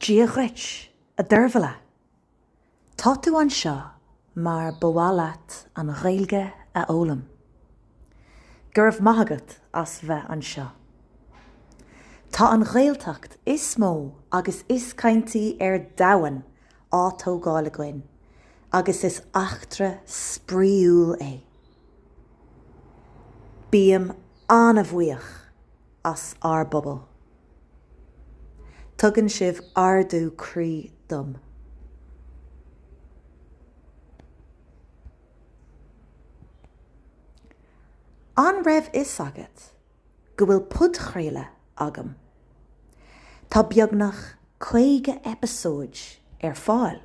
Dia dhuit, a Deirbhile. Tá tú anseo mar ba mhaith leat an Ghaeilge a fhoghlaim. Go raibh maith agat as bheith anseo. Tá an Ghaeltacht is mó agus is caintí ar domhan á tógáil againn agus is eachtra spraíúil é. Bím an-bhuíoch as ár bpobal. Tugann sibh ardú croí dom. An raibh fhios agat go bhfuil podchraoladh agam? Tá beagnach 50 eipeasóid ar fáil.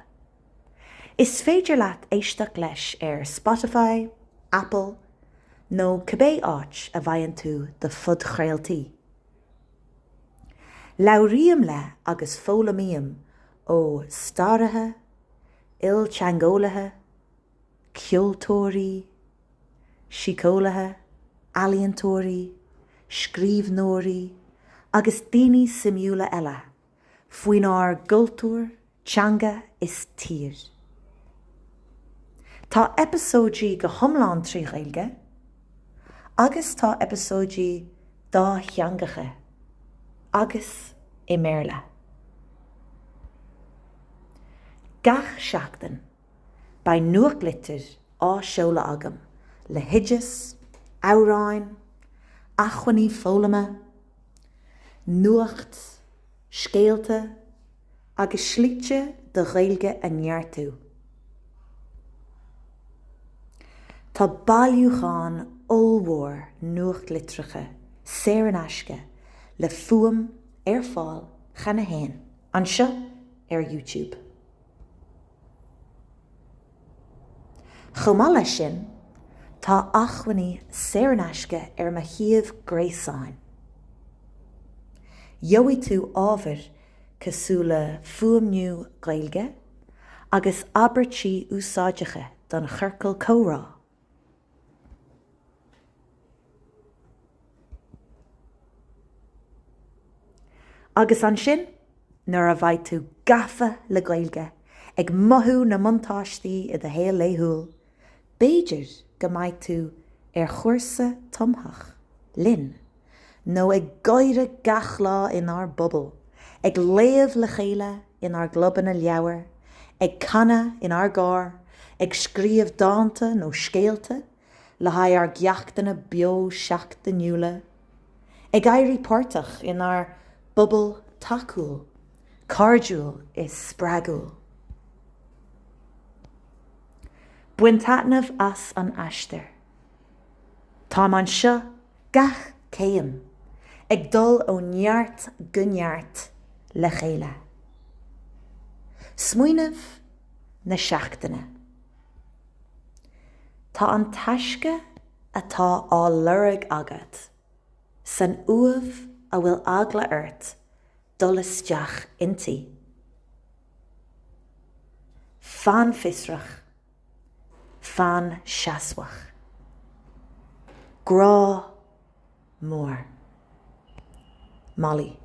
Is féidir leat éisteacht leis ar Spotify, Apple nó cibé áit a bhfaigheann tú do phodchraoltaí. Labhraím le agus foghlaimím ó staraithe, ilteangeolaithe, ceoltóirí, síceolaithe, ealaíontóirí, scríbhneoirí agus daoine suimiúla eile. faoinár gcultúr, teanga is tír. Tá eipeasóidí go hiomlán trí Ghaeilge agus tá eipeasóidí dátheangacha agus i mBéarla. Gach seachtain. Beidh nuachtlitir á seoladh agam le hoideas, amhráin, acmhainní foghlama, nuacht, scéalta agus slite do Ghaeilge a neartú. Tá bailiúchán ollmhór nuachtlitreacha saor in aisce le fuaim ar fáil cheana féin anseo ar YouTube. Chomh maith leis sin, tá acmhainní saor in aisce ar mo shuíomh gréasáin. Gheobhaidh tú ábhar cosúil le fuaimniú Gaeilge agus abairtí úsáideacha don chiorcal comhrá. Agus ansin, nuair a bheidh tú gafa le Gaeilge, ag mothú na mbuntáistí i do shaol laethúil, b'fhéidir go mbeidh tú ar chúrsa tumthach linn. nó ag gáire gach lá inár bpobal, ag léamh le chéile inár gclubanna leabhar, ag canadh inár gcór, ag scríobh dánta nó scéalta le haghaidh ár gceachtanna beo seachtainiúla, ag éirí páirteach inár bpobal tacúil, cairdiúil is spreagúil. Bain taitneamh as an aistear. Táim anseo Gach céim ag dul ó neart go neart le chéile. Smaoineamh na seachtaine. Tá an taisce atá á lorg agat san uaimh a bhfuil eagla ort dul isteach inti. Fan fiosrach. Fan seasmhach. Grá mór. Molly.